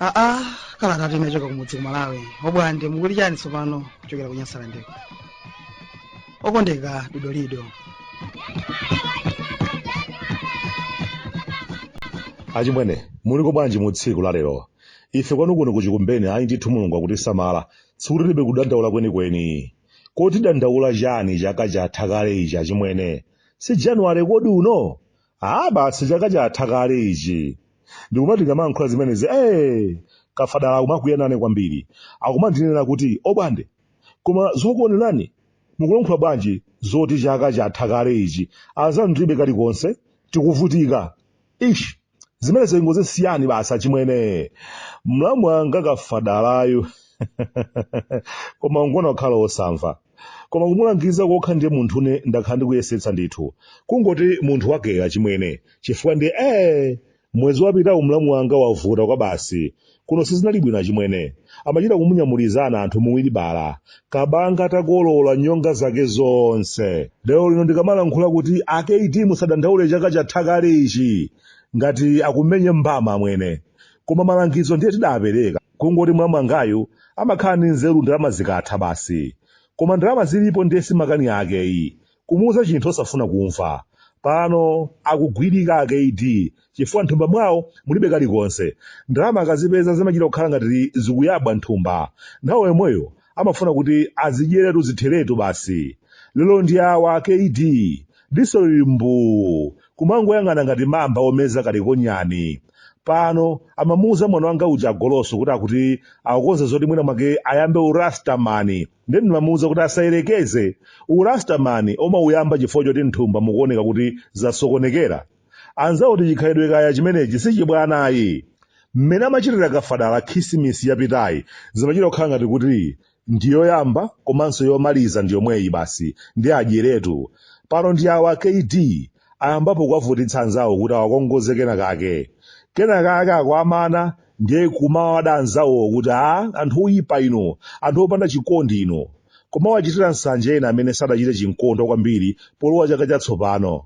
aa kalata inachoka kumudzi ku malawi obwande mukuli chani tsopano kuchokera ku nyasalandeko okondeka dodolido achimwene muliko bwanji mu tsiku la lero ife kwanu kuno kuchikumbeni ayi ndithu mulungu akutisamala tsiku tilibe kudandaula kwenikweni koti dandaula chani chaka chatha kale ichi achimwene si januwale kodi uno Ah, basi chaka chatha kale ichi. Ndikumati ndikamayankhula zimenezi, eh, kafadala akumakwiya nane kwambiri. Akumandinena kuti, obwande, koma zokuonerani, mukulankhula bwanji zoti chaka chatha kale ichi. Anzanu tilibe kalikonse, tikuvutika. Ish, zimenezo ingozisiyani basi achimwene. Mlamu wanga kafadalayu, koma ungoona kukhala osamva. koma kumulangiza kokha ndiye munthune ndakhala ndikuyesetsa ndithu kungoti munthu wakeyo achimwene chifukwa ndiye ee mwezi wapitawu mlamu wanga wavuta kwabasi kuno sizinali bwino achimwene amachita kumunyamulizana anthu muwiribala kabanga atakolola nyonga zake zonse lero lino ndikamalankhula kuti a kd musadandaule chaka chatha kale ichi ngati akumenye mbama amwene koma malangizo ndiye tidapereka Kungoti mlamu wangayu amakhala ndi nzeru ndalama zikatha basi. Koma ndalama zilipo ndiye si makani ake yi. Kumuuza chinthu osafuna kumva. Pano akugwirika a KD chifukwa nthumba mwawo mulibe kalikonse. Ndalama akazipeza zimachita kukhala ngati zikuyabwa nthumba. Nthawi yomweyo amafuna kuti azidyeretu zitheretu basi lero ndi awa kd diso lili mbuu kumangoyang'ana ngati mamba omeza kalikonyani pano amamuuza mwana wanga uja agoloso kuti akuti akukonza zoti mwina mwake ayambe urastamani ndiye ndimamuuza kuti asayerekeze urastamani omauyamba chifukwa choti nthumba mukuoneka kuti zasokonekera anzawo kuti chikhalidwe kaya chimenechi sichibwana ayi mmene amachitira kafadala khisimisi yapitayi zimachita kukhala ngati kuti ndiyoyamba komanso yomaliza ndiyomweyi basi ndi adyeretu pano ndi awa kd ayambapo kuwavutitsa anzawo kuti awakongoze kena kake kena kake akawamana ndiye kumawada anzawowo kuti a anthu oyipa inu anthu opanda chikondi inu kumawachitira nsanje ena amene sadachite chinkondo kwambiri polowa chaka chatsopano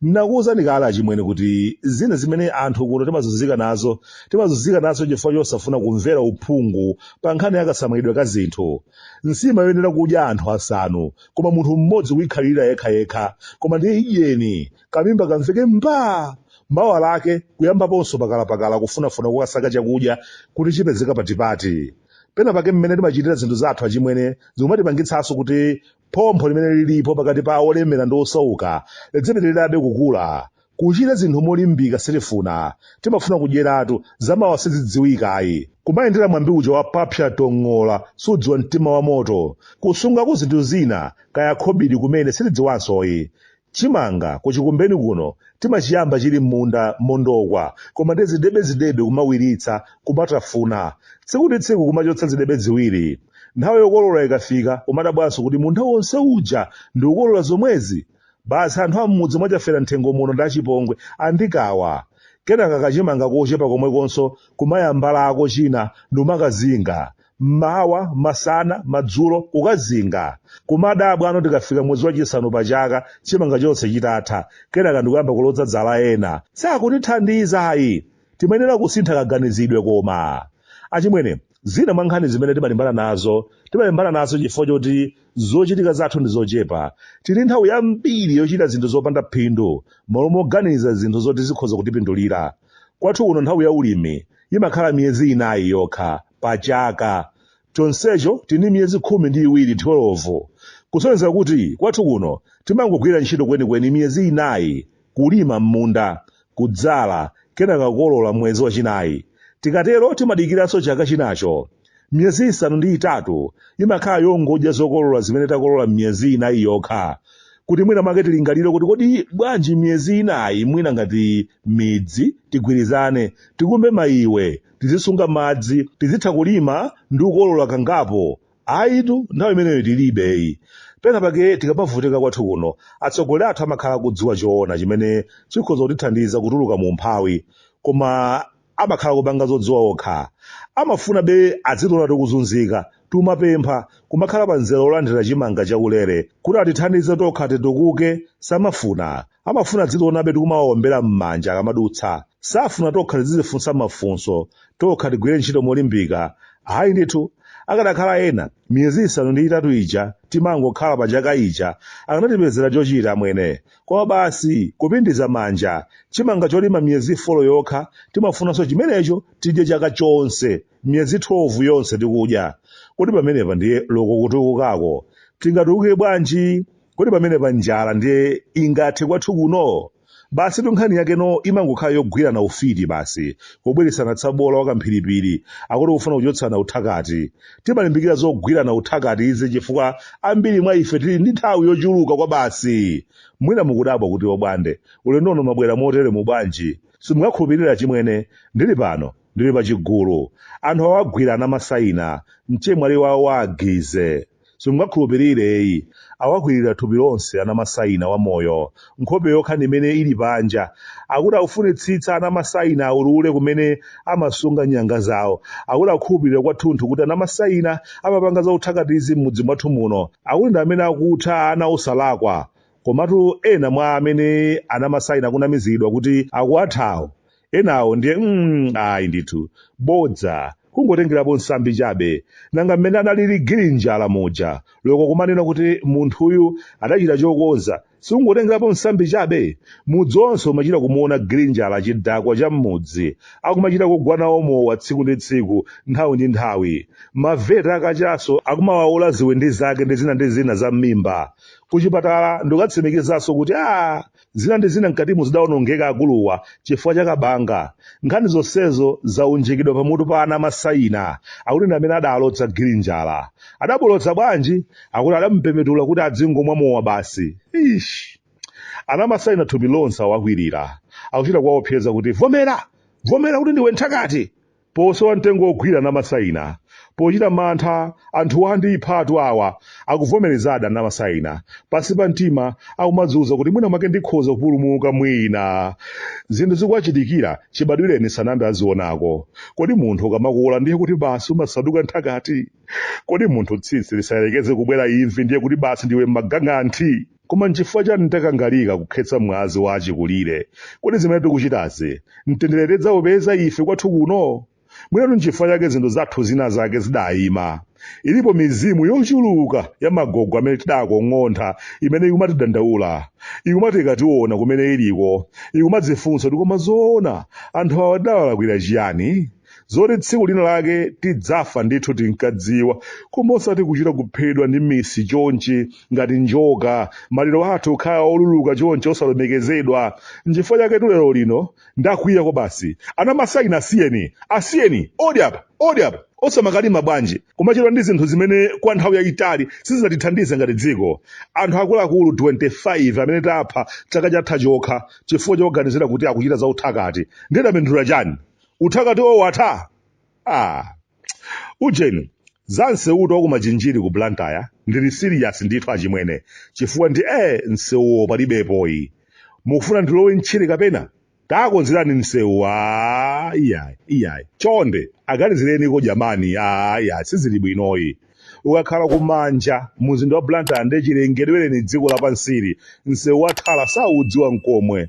Ndinakuwuzani kale achimwene kuti zina zimene anthu kuno timazunzika nazo, timazunzika nazo chifukwa chosafuna kumvera uphungu pa nkhani ya kasamalidwe ka zinthu. Nsima yoyenera kudya anthu asanu, koma munthu mmodzi kuyikhalirira yekhayekha, koma ndiye idyeni, kamimba kamveke mbaa! Mawa lake kuyambaponso pakalapakala kufunafuna kokasaka chakudya kuti chipezeka patipati. Pena pake mmene timachitira zinthu zathu achimwene zikumatipangitsanso kuti Phompho limene lilipo pakati pa olemera ndi osauka lidzipitirirabe kukula. Kuchita zinthu molimbika sitifuna. Timafuna kudyeratu, zamawa sizidziwika ayi. Kumayendera mwambi uja wa papsa tong'ola sudziwa mtima wa moto. Kusungako zinthu zina, kaya khobidi kumene sitidziwansoyi. Chimanga ku Chikumbeni kuno timachiyamba chili m'munda mondokwa koma ndi zidebezidebe kumawiritsa, kumatafuna. Tsiku ndi tsiku kumachotsa zidebe ziwiri. Nthawi yokolola ikafika umadabwanso kuti munda wonse uja ndikukolola zomwezi? Basi anthu a m'mudzi mwa Chafera Nthengo muno ndi achipongwe andikawa. Kenaka kachimanga kochepa komwekonso kumayambalako china nkumakazinga. mmawa masana madzulo kukazinga kumadabwa ano tikafika mwezi wachisanu pa chaka chimanga chonse chitatha kenaka ndikuyamba kuloza zala ena sakutithandiza ayi timayenera kusintha kaganizidwe koma achimwene zina mwa nkhani zimene timalimbana nazo timalimbana nazo chifukwa choti zochitika zathu ndi zochepa tili nthawi yambiri yochita zinthu zopanda phindu malo moganiza zinthu zoti zikhoza kutipindulira Kwathu kuno nthawi ya ulimi imakhala miyezi inayi yokha pa chaka, chonsecho tili ndi miyezi khumi ndi iwiri 12, kusonyeza kuti kwathu kuno timangogwira ntchito kwenikweni miyezi inayi, kulima m'munda, kudzala, kenaka kukolola mwezi wachinayi. Tikatero timadikiranso chaka chinacho. Miyezi isanu ndi itatu imakhala yongodya zokolola zimene takolola miyezi inayi yokha, kuti mwina mwake tilingalire kuti kodi bwanji miyezi inayi mwina ngati midzi tigwirizane, tikumbe maiwe, tizisunga madzi, tizitha kulima ndi kukolola kangapo. Ayitu, nthawi imeneyo tilibeyi. Pena pake tikamavutika kwathu kuno, atsogoleri athu amakhala akudziwa choona chimene chikhoza kutithandiza kutuluka mu umphawi, koma amakhala kupanga zodziwa okha amafunabe adzitiona tikuzunzika tikumapempha kumakhala pa mzere olandira chimanga chaulere kuti atithandize tokha titukuke samafuna amafuna adzitionabe tikumawaombera m'manja akamadutsa safuna tokha tizizifunsa mafunso tokha tigwire ntchito molimbika hayi ndithu akanakhala ena miyezi isanu ndi itatu ija timangokhala pa chaka ija akanatipezera chochita amwene Koma basi kupindiza manja. Chimanga cholima miyezi 4 yokha timafunanso chimenecho tidye chaka chonse. Miyezi 12 yonse tikudya. Kodi pamenepa ndiye loko kutukukako. Tingatukuke bwanji? Kodi pamenepa njala ndiye ingathe kwathu kuno? Basitu nkhani yakeno imangokhala yogwirana ufiti basi, kubwiritsana tsabola wa kamphiripiri, akuti kufuna kuchotsana uthakati. Timalimbikira zogwirana uthakati izi chifukwa ambiri mwa ife tili ndi nthawi yochuluka kwabasi. Mwina mukudabwa kuti Obwande, ulendo uno mwabwera moteremu bwanji? Simungakhulupirire achimwene, ndili pano, ndili pa chigulu. Anthu awagwira anamasaina, mchemwali wawo wa a Gize. Simungakhulupirire eyi, awakwirira thupi lonse anamasaina wamoyo, nkhope yokha ndi imene ili panja akuti akufunitsitsa anamasaina aulule kumene amasunga nyanga zawo akuti akukhulupirira kwathunthu kuti anamasaina amapanga za uthakatizi m'mudzi mwathu muno akuti ndi amene akutha ana osalakwa komatu ena mwa amene anamasaina akunamizidwa kuti akuwathawo enawo ndiye mm, ayi ndithu bodza kungotengerapo nsambi chabe nanga mmene analili gilinjala muja loko kumanena kuti munthuyu adachita chokonza sikungotengerapo msambi chabe mudzi onse umachita kumuona girinjala chidakwa cha m'mudzi akumachita kugwa nawo mowa tsiku ndi tsiku nthawi ndi nthawi maveta a kachaso akumawaula ziwindi zake ndi zina ndi zina za m'mimba kuchipatala ndikukatsimikizaso kuti a zina ndi zina mkatimo zidaonongeka akuluwa chifukwa cha kabanga nkhani zonsezo zaunjikidwa pamutu pa anamasaina akuti ndi amene adaalodza girinjala adawalodza bwanji akuti adamupepetula kuti adzingomwa mowa basi Eish. anamasaina thupi lonse awakwirira akuchita kuwaopseza kuti vomera vomera kuti ndiwe nthakati posowa mtengo wogwira anamasaina pochita mantha anthu andiphatu awa akuvomerezadi anamasaina pansi pa mtima akumadziuza kuti mwina mwake ndikhoza kupulumuka mwina zinthu zikuwachitikira chibadwireni sanayambe azionako kodi munthu ukamakula ndiye kuti basi umasanduka nthakati kodi munthu tsitsi lisayerekeze kubwera imvi ndiye kuti basi ndiwe magang'anthi koma nchifukwa chani takangalika kukhetsa mwazi wa achikulire kodi zimene tikuchitazi mtendere tidzaupeza ife kwathu kuno mwinatu nchifukwa chake zinthu zathu zina zake zidayima ilipo mizimu yochuluka ya magogo amene tidakong'ontha imene ikumatidandaula ikumati ikationa kumene iliko ikumadzifunsa kuti koma zoona anthu awa tidawalakwira chiyani zoti tsiku lina lake tidzafa ndithu tinkadziwa koma osati kuchita kuphedwa ndi misi chonchi ngati njoka maliro athu kukhala oluluka chonchi osalemekezedwa nchifukwa chaketu lero lino ndakwiya kwa basi anamasaina asiyeni asiyeni odi apa odi apa osamakalima bwanji kumachedwa ndi zinthu zimene kwa nthawi yayitali sizinatithandize ngati dziko anthu akuluakulu 25 amene tapha chaka chatha chokha chifukwa chowaganizira kuti akuchita zauthakati ndiye tapindula chani uthakati watha ah ujeni za msewutu wakumachinjiri ku blantyre ndili serious ndithu achimwene chifukwa ndi e msewuwo palibepoyi mukufuna ndilowe ntchire kapena takonzerani msewu a iyayi iyayi chonde aganizireniko jamani a iyayi sizili bwinoyi ukakhala kumanja muzinda wa blantyre ndi chilengedwereni dziko lapansili msewu watala saudziwa nkomwe